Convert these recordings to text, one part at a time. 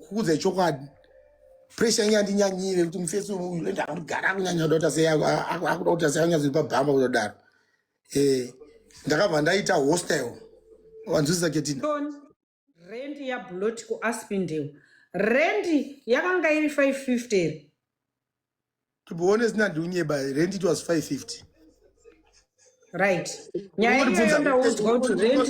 kuudza chokwadi pressure inge yandinyanyire kuti mufesi uyu ende akugara akunyanya kuda kuti akuda kuti asanyanyaziri pabhamba kutodaro eh, ndakabva ndaita hostel wanzwisisa ketina rendi yablot kuaspindale rendi yakanga iri 550 to be honest ndandiunyeba rent it was 550 right nyaya iyoyo ndaudzwa kuti rent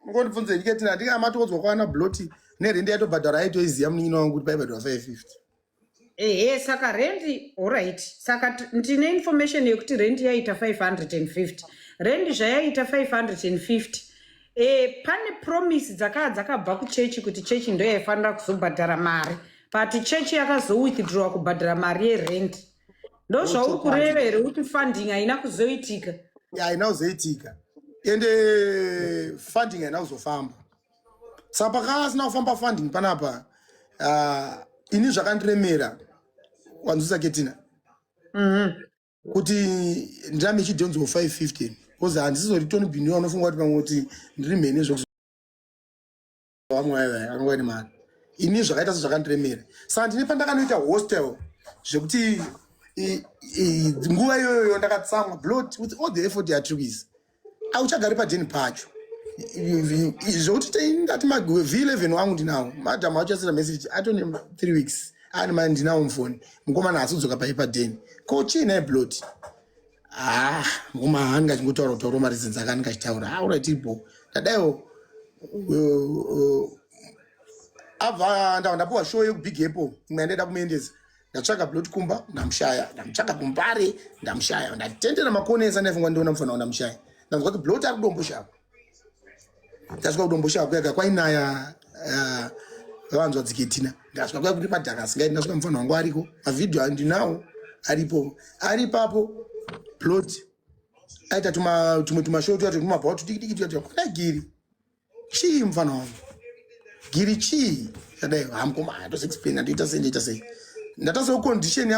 ungondibvunze ndike tina ndinga matoodzwa kwana bloti nerende yatobhadhara aitoiziva munin'ina wangu kuti paibhadhara 550 ehe saka rendi orit saka ndine information yekuti rendi yaita 550 rendi zvayaita 550 e, pane promise dzakaa dzakabva kuchechi kuti chechi ndo yaifanira kuzobhadhara mari but chechi yakazowithdrowa kubhadhara mari yerent ndo zvauri kureva here kuti funding haina kuzoitika haina kuzoitika ende eh, funding haina kuzofamba saka pakaasina kufamba funding panapa uh, ini zvakandiremera wanzwisa ketina mm -hmm. kuti ndirame ichidhonzwa 550 bcause handisizori tony biniwa anofunga kuti pamwe kuti ndiri mhene zvekuamwayavaye anova ne mari ini zvakaita sezvakandiremera saka ndine pandakanoita hostel zvekuti nguva iyoyoyo ndakatsamwa blot with all the effort yatiri kuisa auchagari padeni pacho zvokuti tei ndati v11 wangu ndinawo madam auchasira message atone 3 weeks ani mai ndinawo mufoni mukomana asudzoka pai padeni ko chii naye blot haa ah, mukoma haani kachingotaura kutaura marizinzi akani kachitaura aura ah, tiripo ndadaiwo uh, uh, abva ndava ndapuwa show yekubig apple imwe yandaida kumaendesa ndatsvaka plot kumba ndamushaya ndamutsvaka kumbare ndamushaya ndatendera makoni ese andaifungwa ndiona mufana wa ndamushaya ndanzwa kuti blot ari kudomboshava ndasvika kudomboshava kuyaga kwainaya eh, vavanzwa dziketina ndasvika kuya kuti madhaka asingaiti ndasvika mufana wangu ariko mavhidhiyo andinawo aripo ari papo plot aita tumwe tumashow tuya tukumabhawa tudikidiki tuya tuya kwanagiri chii mfana wangu giri chii chadai hamkoma atosi explain andiita sei ndiita sei ndatasawo condition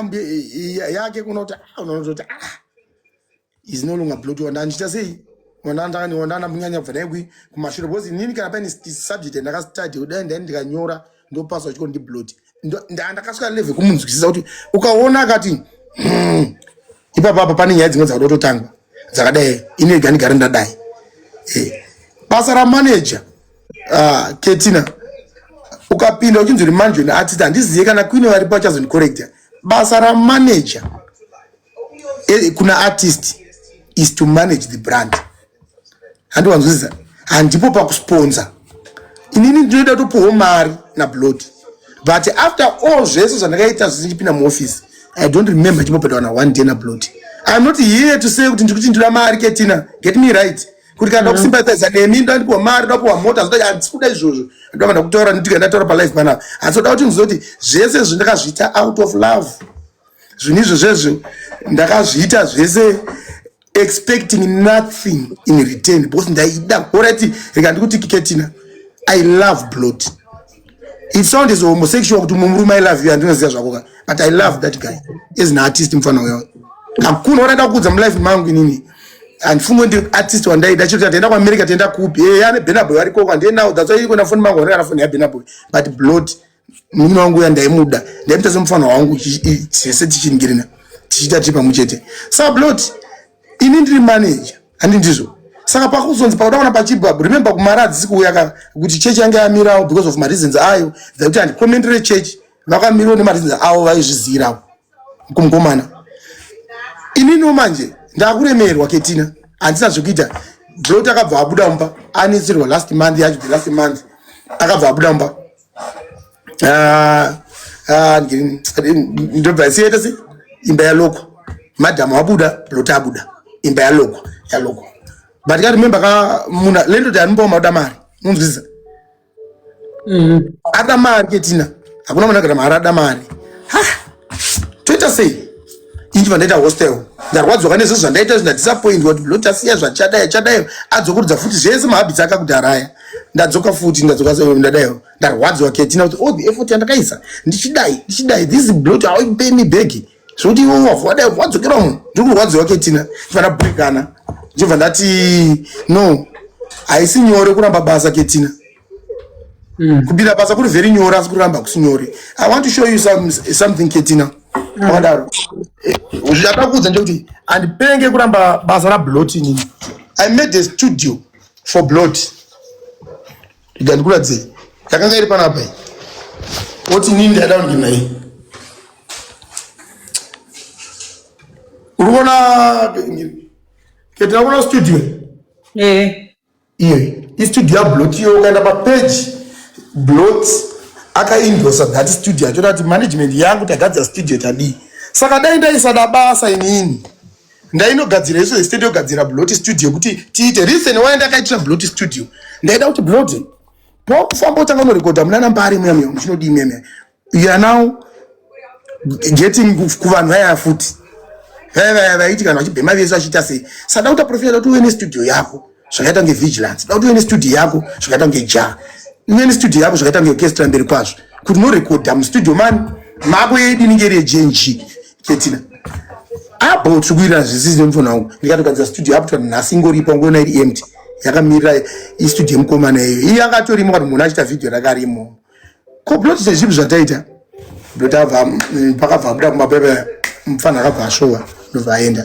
yake kuona kuti ah, unaona kuti ah is no longer blood wanda andiita sei wandandani wandana munyanya bva dai kumashure because inini kana paine subject yandakastudy kudai ndai ndikanyora ndi ndopasa uchiko ndibloti ndakasvika leve kumunzwisisa kuti ukaona akati hmm, ipapa apa pane nyaya dzimwe dzakuda kutotangwa dzakadai ini rega ndigare ndadai eh, basa ramaneja ah, ketina ukapinda uchinzwi uri manjoni atiti handizive kana kwine varipo achazondicorecta basa ramaneja eh, kuna artist is to manage the brand handiwanzwisisa handipo pakusponsa inini ndinoda kutopiwo mari nablod but after all zvese zvandakaita zvese ndichipinda muoffice i don't remember chimbopedwa na one day nablod iam not here to say kuti ndikuti ndira mari ketina get me right kuti kana ndakusimbatiza mm-hmm. nemi ndandipiwa mari ndapiwa mota handisi kuda izvozvo ndovanda kutaura nditika ndataura palife panapa asi oda kuti ndizoti zvese zvandakazviita out of love zvinhu izvo zvezvo ndakazviita zvese expecting nothing in return because ndaida orati rega ndikuti kiketina i love blot it sound is homosexual kuti mumurume i love you andinoziva zvako ka but i love that guy as an artist mufana uyo hakuna wanaida kuudza mulife mangu inini handifunge ndi artist wandaida chiro tataenda kuamerica taenda kupi e eh, ane benaboy arikoko handienawo that's why ikona foni mangu anekana foni yabenaboy but blot munin'ina wangu uya ndaimuda ndaimuita semufana wangu tese tichiningirina tichiita tiri pamwe chete sablot ini ndiri manager handi ndizvo saka pakuzonzi pakuda kuona pachibva remember kumari hadzisi kuuya ka kuti chechi yange yamirawo because of mareasons ayo dzekuti handikomendere chechi vakamirawo nemareasons avo vaizviziyirawo kumukomana ininiwo manje ndakuremerwa ketina handisina zvekuita blot akabva abuda mumba anetsirwa last month yacho the last month akabva abuda mumba Ah, ah, ndobva yasiyaita se imba yaloko madhamu wabuda loti abuda imba yaloko yaloko but ka remember ka muna le ndoti anombawo mauda mari munzwisisa mm-hmm. ada mari ke tina hakuna mwana kana mari ada mari toita sei ini vandaita hostel ndarwadziwa kane zvinhu zvandaita izvi ndadisappointwa kuti blot asiya zvachadai chadai adzokurudza futi zvese mahabits ake akudhara aya ndadzoka futi ndadzoka ndadai ndarwadziwa ketina kuti all oh, the effort yandakaisa ndichidai ndichidai this blot hauipei mi bhegi zvekuti iwe wavhu wadai wadzokera munhu ndiri kurwadziwa ketina ndibvana brekana ndibva ndati no haisi nyore kuramba basa ketina Mm. Kubira basa kuri very nyore asi kuramba kusinyore. I want to show you some, something Ketina. Mm. Akadaro. Eh, Zvakakuudza nje kuti andipenge kuramba basa ra blot inini. I made a studio for blot. Rega ndikuratidze. Yakanga iri panapa iyi. Woti inini ndaida kunge naye. Uri kuona Ketina kuona studio? Eh. iyoyi istudio yablot iyo ukaenda papage blot akaindosa that studio achoda kuti management yangu tagadzira studio tadii saka dai ndaisada basa inini ndainogadzira isu zestate yogadzira blot studio kuti tiite reason why ndakaitira blot studio ndaida kuti blot pokufamba utanga unorekodha munana mbari muya muya muchinodii muya muya you are now getting kuvanhu vaya futi vaya vaya vaiti kana vachibhema vese vachiita sei sada kuta profita kuti uve nestudio yako zvakaita kunge vigilance da kuti uve nestudio yako zvakaita kunge ja uve nestudio yako zvakaita kunge orchestra mberi kwazvo kuti norekodha mustudio mani mako yeidi ninge iri yejng ketina abo tiri kuirira zvisizi nemufona wangu ndikatogadzira studio yapo twa nhasi ingoripa ungoona iri empty yakamirira istudio yemukomana iyoyo iye akatorimo kati munhu achita vhidhiyo rakarimo ko blotisa zvipi zvataita ndotava mm, pakabva abuda kumabebe mufana akabva asvova ndobva aenda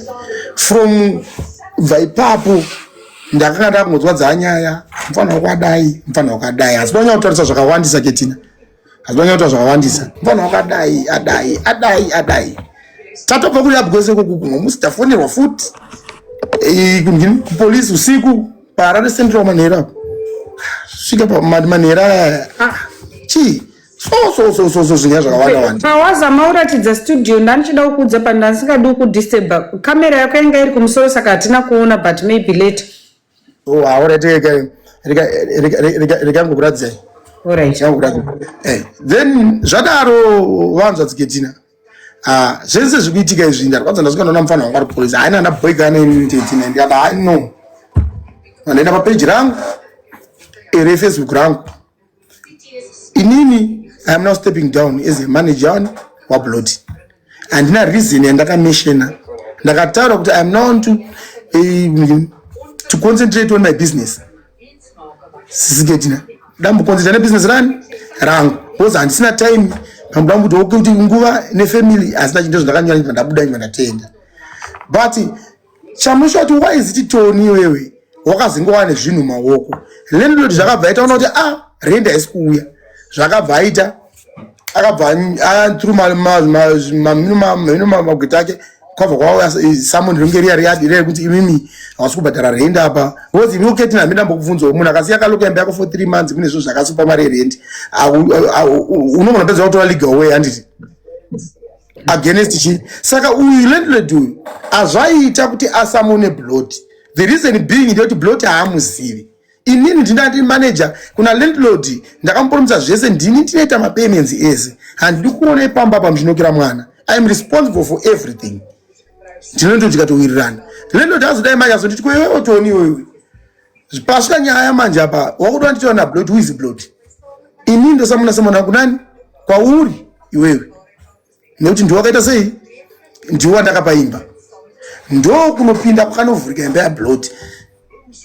from bva ipapo ndakanga ndakungonzwa dzaa nyaya mufana wakadai mufana wakadai asi vanyanya kutarisa zvakawandisa ketina asi vanyanya kutaura zvakawandisa mufana wakadai adai adai adai tatobva kuri abwese kokukumwa musi tafonerwa futi eh, kupolisi usiku paharare central manhera apo svika pamanhera aya ah, chii so so so so so zvinya zvakawanda wanda pawazama uratidza studio ndandichida kukuudza pa ndandisingadi ukudisturba kamera yako yanga iri kumusoro saka hatina kuona but maybe later oh alright rega rega rega rega rega ngokuradzai alright ngokuradzai eh then zvadaro vanzwa dziketina Ah, zvese zvikuitika izvi ndarwadza ndasvika ndaona mufana wangu ari polisi haina ana boy kana ini tete nai ndikati hai no vandaenda papeji rangu ere facebook rangu inini i am now stepping down as a manager wani wabloti handina reason yandakameshena ndakataura kuti i am now to, uh, to concentrate on my business sisi gedina dambukonzita nebusiness rani rangu because handisina time pambuda kuti oke kuti nguva nefamily hazina chinto zvindakanyora nyika ndabuda nyika ndatenda but chamusha kuti why is it toni iwewe wakazingova nezvinhu maoko landlord zvakabva aita ona kuti a ah, renda haisi kuuya zvakabva aita akabva through mhino magweta ake kwabva kwauya samon ringe riya riyadi riya rekuti imimi hausi kubhadhara rendi apa because imi uketi nami ndambokubvunzawo munhu akasiya kaloka imba yako for three months kune zvo zvakasupa mari yerendi unogona pedza kutora legal way handiti against chi saka uyu landlord uyu azvaiita kuti asamone blot the reason being ndeyekuti blot haamuzivi inini ndinda ndiri manager kuna landlord ndakamupuromisa zvese ndini ndinoita mapayments ese handidi kuona ipamba apa muchinokera mwana iam responsible for everything ndinondo tikatowirirana landlord azodai manje azonditi kwewe otoni iwewe pasvika nyaya manje apa wakuda wanditaura nablot who is blot inini ndosamuna samwana kunani kwauri iwewe nekuti ndiwo wakaita sei ndiwo wandakapa imba ndo kunopinda kwakanovhurika imba yablot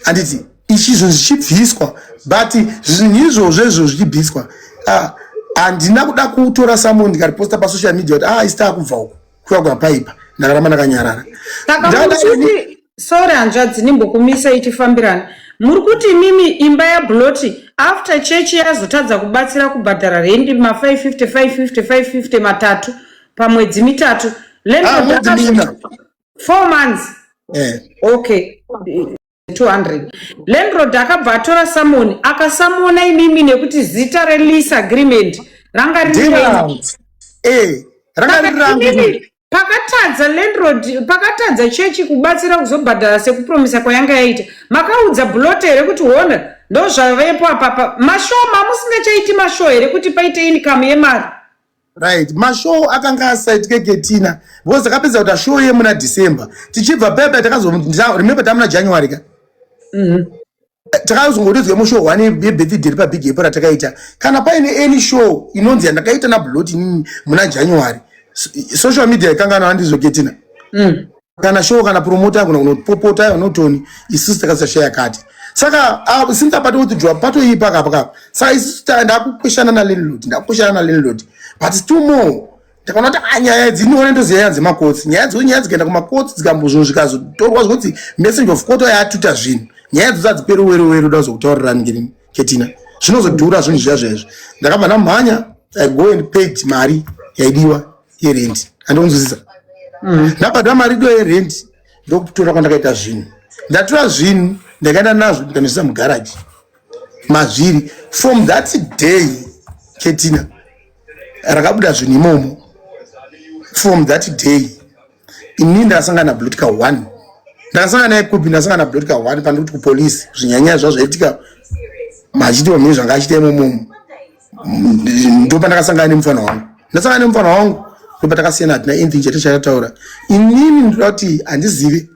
handiti ichizvo zvichibviswa but zvinhu izvozvo izvo zvichibviswa ah, handina kuda kutora samun ndikariposta pasocial media kuti ah isita kubva uku kuya kwapaipa ndakaramba ndakanyarara sorry hanzvadzi ndimbokumisa itifambirana muri kuti imimi imba yabloti after chechi yazotadza kubatsira kubhadhara rendi ma 550 550 550 matatu pamwedzi mitatu ah, four months eh. okay 200 landrod akabva atora samoni akasamona imimi nekuti zita release agreement ranga riri eh, pakatadza landlord pakatadza chechi kubatsira kuzobhadhara sekupromisa kwayanga yaita makaudza bulote here kuti hona ndozvavepo apapa mashoo mamusingachaiti mashoo here kuti paite income yemari right mashoo akanga asaitike ketina because takapedza kuita shoo yemuna december tichibva pepe takazoremember tamuna january ka mm -hmm. takazongorizwe mushow one yebirthday repabig apo ratakaita kana paine any show inonzi yandakaita nablot inini muna january social media ikangana andizoketina mm. kana show kana promota yakona kunopopota yonotoni isusu takasashaya kati saka uh, since apato kuti jwa pato iyi paka paka saka isusu ndakukweshana na landlord ndakukweshana na landlord but still more takaona kuti ah, nyaya idzi inione ndoziva nyaya dzemakotsi nyaya dzo nyaya dzikaenda kumakotsi dzikambozvo zvikazotorwa zvokuti message of court yatuta zvinhu nyaya dzo dzadziperi weruweru da zokutaurirani ngirini ketina zvinozodhura zvinhu zviya zvaizvo ndakabva ndamhanya i go and paid mari yaidiwa yerendi andionzwisisa mm. ndabhadha mari idiwa yerendi ndokutora kwandakaita zvinhu ndatora zvinhu ndakaenda nazvo ndikanoisa mugaraji mazviri from that day ketina rakabuda zvinhu imomo from that day ini ndasangana blotika one ndasangana naye kupi ndasangana blotika one pandiri kuti kupolice zvinyanyaya zva zvaitika machiti wamhiri zvanga achita imomomo ndopandakasangana nemufana wangu ndasangana nemufana wangu ndopatakasiyana hatina anything chete chakataura inini ndoda kuti handizive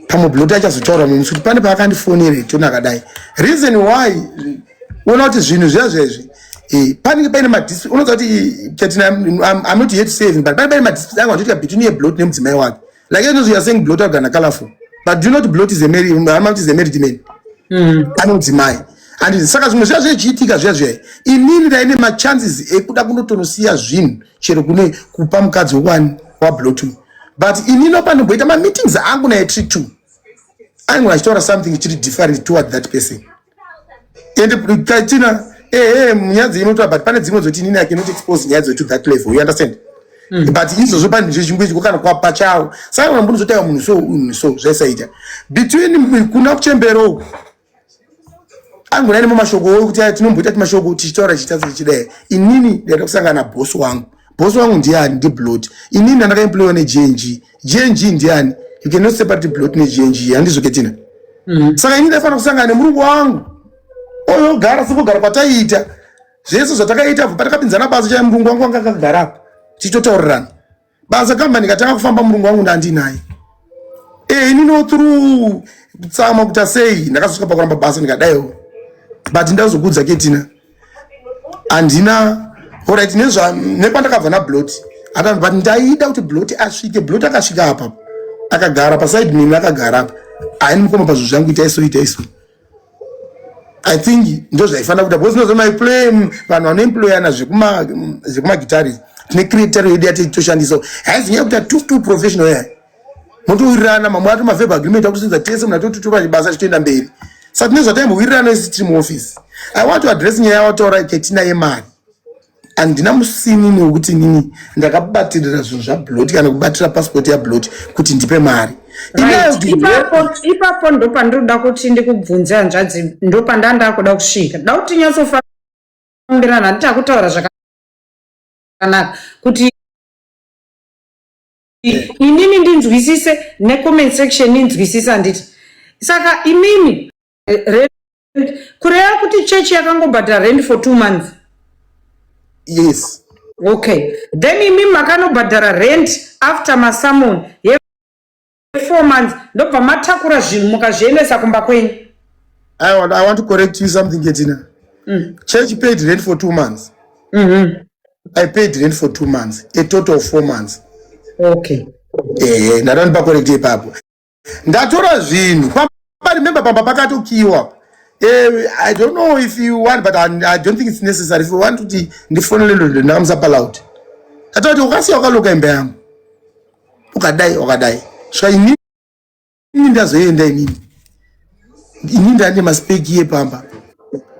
pamwe bloti achazotaura mumwe musi kuti pane paakandifonera itiona akadai reason why uona kuti zvinhu zviya zvezvi eh, panenge paine madisp unoza kuti chatina am not yet saving but pane paine madisp angu achoitika between yeblot nemudzimai wake like inozi youare saying blot agana colorful but do not blot amakuti is a married man mm. anomudzimai and saka zvimwe zviya zvechiitika zviya zviya inini ndaine machances ekuda kunotonosiya zvinhu chero kune kupa mukadzi wani wablotu but inino panomboita mameetings angu naye tri two ainge achitaura something chiri different toward that person and tachina ehe nyaya dzeinotoa but pane dzimwe dzoti inini yake inoti expose nyaya dzeto that level you understand Mm. but izvozvo pane zvechimbo ichiko kana kwapa chawo saka kana mbunozotaiwa munhu so munhu so zvaisaita between kuna kuchembero angona ine mashoko wo kuti tinomboita ti mashoko tichitaura chitadza chidai inini ndaita kusangana na boss wangu boss wangu ndiani ndi blot inini ndandaka employer ne GNG GNG ndiani you cannot separate blot ne GNG handizo ketina mm. saka inini ndaifana kusangana ne murungu wangu oyo gara siko gara kwataita zvese zvatakaita bva patakapinzana basa chai murungu wangu anga akagara apa tichitotaurirana basa kambani katanga kufamba murungu wangu ndandinaye eh, ini no through kutsama kuta sei ndakasvika pakuramba basa ndikadaiwo but ndazokudza ketina handina orit nezva nepandakabva nablot ata but ndaida kuti blot asvike blot akasvika apa akagara pasaid mimi akagara apa aini mukoma pazvo zvangu itaiso itaiso I think ndo zvaifanira kuita because nozoma play mm, vanhu vanoemployana zvekuma mm, zvekuma guitarist tine creator yedu yati toshandisa haizi nyaya kuita two two professional yaya motowirirana mamwe ato maveb agreement akusenza tese mna totutupa chibasa chitoenda mberi sa tine zvataimbowiriranao isi tiri muoffice i want to address nyaya yawataura ketina yemari handina musinini wekuti inini ndakabatirira zvinhu zvabloti kana kubatira pasipoti yabloti kuti ndipe mari ipapo ndo pandinoda kuti ndikubvunze hanzvadzi ndo pandaa ndakuda kusvika da kuti tinyatsofambirana handiti akutaura zvakanaka kuti inini ndinzwisise necomment section inzwisise handiti saka imimi rent kureva kuti church yakangobhadhara rent for two months yes okay then imi makanobhadhara rent after masamon yefour months ndobva matakura zvinhu mukazviendesa kumba kwenyu I want, I want to correct you something ketina mm. church paid rent for two months mm -hmm. i paid rent for two months a total of four months okay eh, eh, eh ndatondipa correct ipapo ndatora zvinhu pamba remember pamba pakatokiwa eh, i don't know if you want but i, I don't think it's necessary if you want kuti ndifonele lolo ndakamsapa loud ndatora kuti ukasiya ukaloka imba yangu ukadai ukadai svainini ndazoenda inini ini ndane maspeki epamba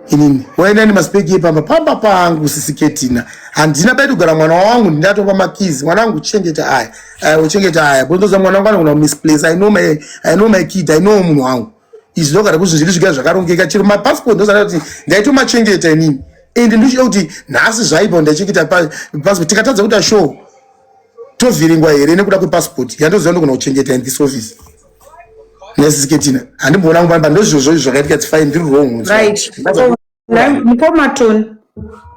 inini waenda ne maspeki epamba pamba pangu sisiketina handina bai kugara mwana wangu ndatopa makizi mwana wangu chengeta aya aya uchengeta aya bondoza mwana wangu anogona kumisplace i know my i know my kid i know munhu wangu izvi ndogara kuti zviri zviga zvakarongeka chero mapassport ndozana kuti ndaitomachengeta inini ende ndochida kuti nhasi zvaipa ndaichengeta passport tikatadza kuita show tovhiringwa here nekuda kwepassport yandoziva ndogona kuchengeta in this office yes siketina handimboona kumbamba ndozvozvo zvakaitika it's fine ndiri wrong right mukoma toni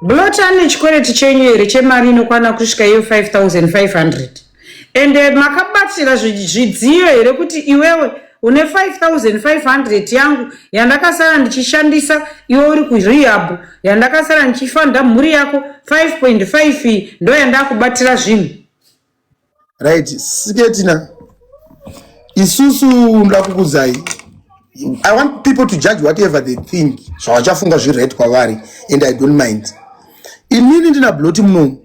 blot ane chikwereti chenyu here chemari inokwana kusvika iyo 5500 ende makabatira zvidziyo here kuti iwewe une 5500 yangu yandakasara ndichishandisa iwe uri kurehab yandakasara ndichifanda mhuri yako 5.5 ndo yandakubatira zvinhu right siketina isusu ndakukudzai i want people to judge whatever they think zvavachafunga so, zvirit kwavari and i don't mind inini ndina bloti munomu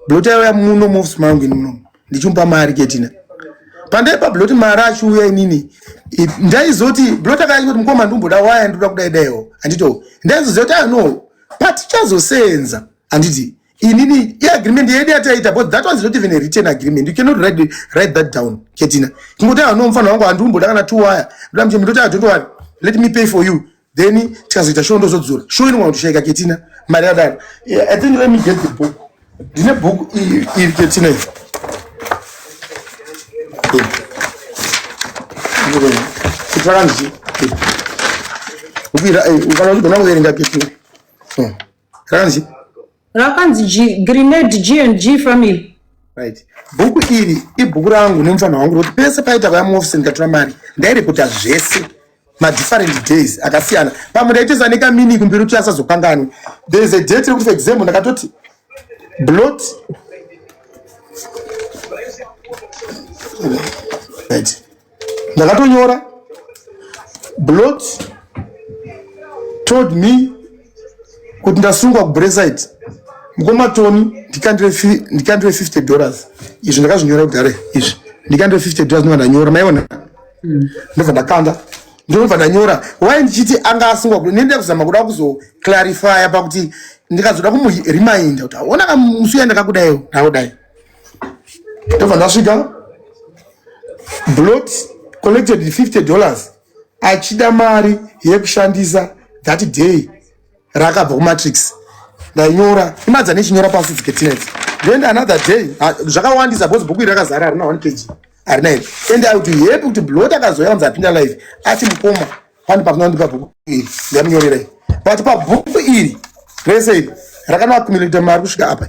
bloti aiuya muno mofisi mangu ini munomu ndichimupa mari ketina pandaipa bloti mari achiuya inini ndaizoti bloti akayati kuti mukoma ndimboda waya ndikuda kudai daiwo handito ndaizoziva kuti ano ah, patichazoseenza handiti inini iagreement yedu yataita but that was not even a written agreement you cannot write, write that down ketina kungoti ano mufana wangu handiumboda kana two wire ndoda mchembe ndoti i don't worry let me pay for you then tikazoita show ndozodzora show inogona kutishaika ketina mari yadaro i think let me get the book ndine book iri ketina ifa kutsvaka ndichi ukira ukana kuverenga ketina hmm. rakanzi rakanzi grenade g and g family right bhuku iri ibhuku rangu nemufana wangu rokuti pese paita vaya muofisi ndikatora mari ndairekota zvese madifferent days akasiyana pamwe ndaiteza nekamini kumbiri kuti asazokanganwe there is a date rekuti for example ndakatoti blot right ndakatonyora blot told me kuti ndasungwa kubresite mukoma toni ndikandire 50 dollars izvi ndakazvinyora kudare izvi ndikandire 50 dollars ndova ndanyora maiona hmm. ndobva ndakanda ndinobva ndanyora wai ndichiti anga asungwa kuda nendida kuzama kuda kuzoclarifya pakuti ndikazoda kumureminder kuti aona kamusuya ndakakudaiwo ndakudai ndobva ndasvika blot collected 50 dollars achida mari yekushandisa that day rakabva kumatrix ndainyora imadza nechinyora pasi dziketinets then another day zvakawandisa bcause bhuku iri rakazara harina one page harina iri and i would be happy kuti blot akazouya anzi apinda life ati mukoma pane pakunondipa bhuku iri ndamunyorerai but pabhuku iri rese iri rakanoakumilita mari kusvika apa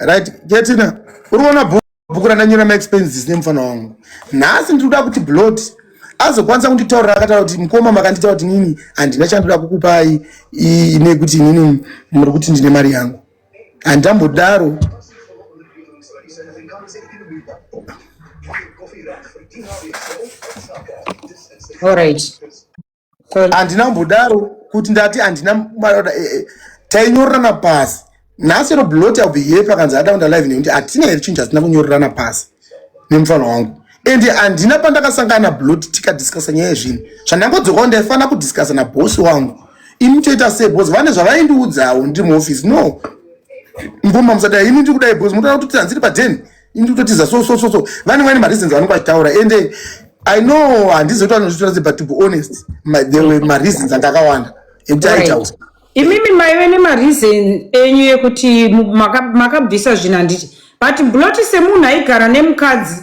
right ketina uri kuona bhuku randanyora maexpenses nemufana wangu nhasi ndiri kuda kuti blot azokwanisa kunditaurira akataura kuti mukoma makandita kuti nini handina chandoda kukupai nekuti nini muri kuti ndine mari yangu handambodaro All right. Kweli. handina kumbodaro kuti ndati handina mari yoda eh, eh. tainyorerana pasi nhasi ro blot i'll be here pakanzi ada kunda live nekuti hatina here chinhu chatina kunyorerana pasi nemufana wangu and handina pandakasangana nablot tikadiscussa nyaya yezvinhu zvandangodzokawo ndaifanira kudiscussa nabosi wangu ini toita sei bcause vane zvavaindiudzawo ndiri muoffice no mvoma musadai ini ndiri kudai bcause munotoona kuti tanziri padeni ini kutotiza so so so so vane vane mareasons vanenge vachitaura ende i know handizi kuti vanozvitora se but to be honest ma, there were mareasons anga akawanda ekuti Right. aitaura imimi maive nemareason enyu yekuti mu- maka- makabvisa zvinhu handiti but bloti semunhu aigara nemukadzi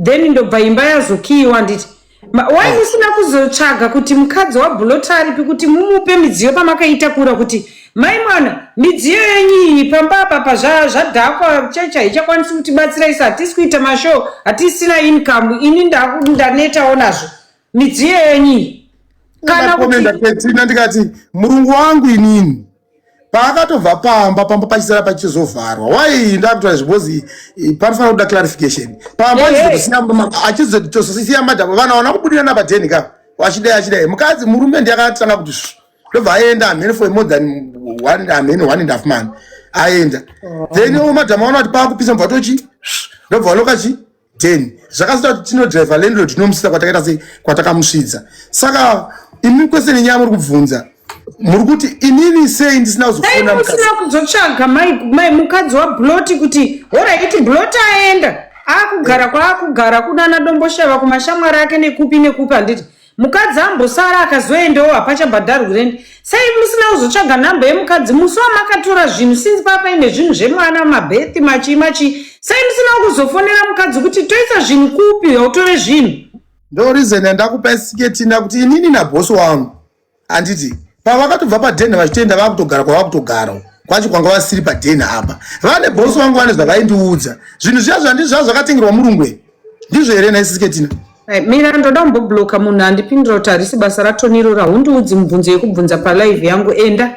then ndobva imba yazokiyiwa handiti Ma- why Ah. musina kuzotsvaga kuti mukadzi wabhulota aripi kuti mumupe midziyo pamakaitakura kuti mai mwana midziyo yenyu iyi pamba apa pa zva- zvadhakwa chechi haichakwanisi kutibatsira isu hatisi kuita mashow hatisina income ini ndaku- ndanetawo nazvo midziyo yenyu iyi kana kuti ndakomenda petina ndikati murungu wangu inini paakatobva pamba pamba pachisara pachizovharwa why ndakutaura zvibhozi eh, panofanira kuda clarification pamba achizotosiya madhava vana wana kubudira napaden ka wachidai achidai mukadzi murume ndiyakatanga kuti ndobva aenda amhene for more than one amhene one and half man aenda then oh. madhama wana kuti paakupisa mubva tochi ndobva wanokachi then zvakazoita kuti tinodriver landlord tinomusvitsa kwatakaita sei kwatakamusvidza saka imi kwese nenyaya muri kubvunza muri kuti inini sei ndisina kuzofona musina kuzotsvaga mai mukadzi wabloti kuti horaiti bloti aenda akugara kwaakugara kunana domboshava kumashamwari ake nekupi nekupi handiti Mukadzi ambosara akazoendawo hapachabhadharwi rent. Sei musina kuzotsvaga number yemukadzi musi wamakatora zvinhu since pava paine zvinhu zvemwana mabirth machii machii. Sei musina kuzofonera mukadzi kuti toisa zvinhu kupi hautore zvinhu. Ndo reason yandakupa siketina kuti inini naboss wangu handiti pavakatobva padenha vachitoenda vakutogara kwavakutogara kwacho kwanga vasiri padenha apa vane bosi vangu vane zvavaindiudza zvinhu zviya zvandi zvaa zvakatengerwa murungwe ndizvo here naisisiketina mira ndoda kumbobloka munhu andipindira kuti harisi basa ratonirora hundiudzi mubvunzo yekubvunza palive yangu enda